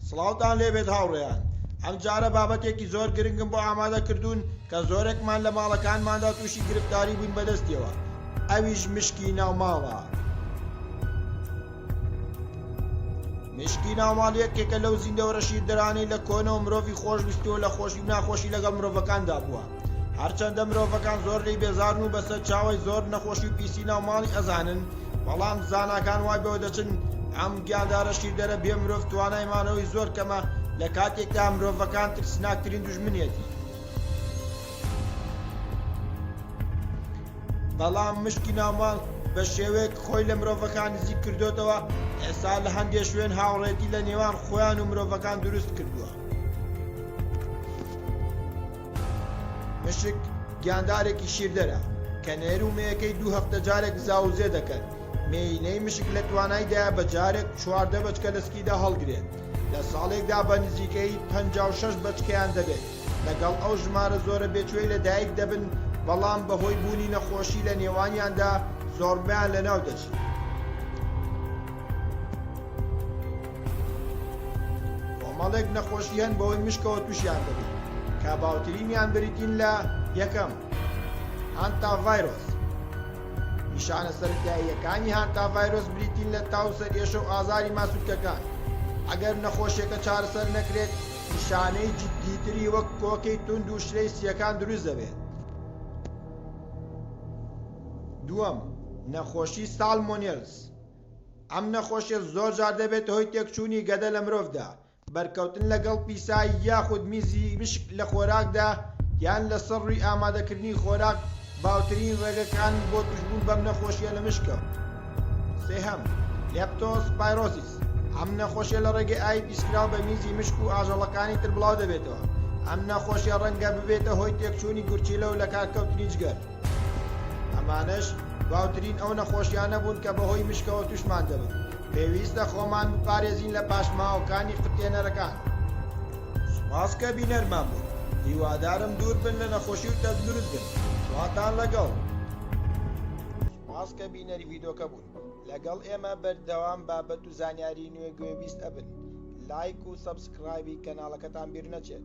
سڵاوتان لێبێت هاوڕێیان ئەم جارە بابەتێکی زۆر گرنگم بۆ ئامادە کردوون کە زۆرێکمان لە ماڵەکانماندا تووشی گرفتاری بووین بەدەستیەوە ئەویش مشکی ناوماڵە مشکی ناوماڵ یەکێکە لەو زیندەوەرە شیردەرانەی لە کۆنەوە مرۆڤی خۆشویستەوە لە خۆشی و ناخۆشی لەگەڵ مرۆڤەکاندا بووە هەرچەندە مرۆڤەکان زۆر لی بێزارن و بەسەر چاوەی زۆر نەخۆشی و پیسی ناو ماڵی ئەزانن بەڵام زاناکان وای بەوە دەچن ئەم گیاندارە شیردەرە بێ مرۆڤ توانای مانەوەی زۆر کەمە لە کاتێکدا مرۆڤەکان ترسناکترین دژمنێتی بەڵام مشکی ناوماڵ بە شێوەیەک خۆی لە مرۆڤەکان نزیک کردوتەوە ئێستا لە هەندێ شوێن هاوڕێتی لە نێوان خۆیان و مرۆڤەکان دروست کردووە. مشک گیاندارێکی شیردەرە کە نێر و مێیەکەی دوو هەفتە جارێک زاوزێ دەکەن، مێینەی مشک لە توانایدایە بە جارێک چواردە بەچکە لە سکیدا هەڵگرێت، لە ساڵێکدا بە نزیکەیی پەنجا و شەش بەچکەیان دەبێت، لەگەڵ ئەو ژمارە زۆرە بێچوەی لەدایک دەبن، بەڵام بەهۆی بوونی نەخۆشی لە نێوانیاندا زۆربەیان لەناو دەچن. کۆمەڵێک نەخۆشی هەن بەوەی مشکەوە تووشیان دەبێت کە باوترینیان بریتین لە یەکەم هانتا ڤایرۆس نیشانە سەرەتاییەکانی هانتا ڤایرۆس بریتین لە تاو سەر ئێشە و ئازاری ماسوولکەکان ئەگەر نەخۆشیەکە چارەسەر نەکرێت نیشانەی جددیتری وەک کۆکەی تونند و شلەی سیەکان دروست دەبێت دووەم نەخۆشی ساڵ مۆنێلز ئەم نەخۆشیە زۆر جار دەبێتە هۆی تێکچوونی گەدە لە مرۆڤدا، بەرکەوتن لەگەڵ پیسایی یاخود میزی مشک لە خۆراکدا یان لەسەر ڕووی ئامادەکردنی خۆراک باوترین ڕێگەکان بۆ توشبوون بەم نەخۆشیە لە مشکە. سێهەم، لێپتۆسپایرۆسیس، ئەم نەخۆشیە لە ڕێگەی ئاوی پیسکراو بە میزی مشک و ئاژەڵەکانی تر بڵاو دەبێتەوە، ئەم نەخۆشیە ڕەنگە ببێتە هۆی تێکچوونی گورچیلە و لەکارکەوتنی جگەر. ئەمانەش باوترین ئەو نەخۆشیانە بوون کە بەهۆی مشکەوە توشمان دەبن پێویستە خۆمان بپارێزین لە پاشماوەکانی قتێنەرەکان سپاس کە بینەرمان بوو هیوادارم دوور بن لە نەخۆشی و تەندروست بن خواتان لەگەڵ سپاس کە بینەری ڤیدۆکە بوون لەگەڵ ئێمە بەردەوام بابەت و زانیاری نوێ گوێبیست ئەبن لایک و سەبسکرایبی کەناڵەکەتان بیر نەچێت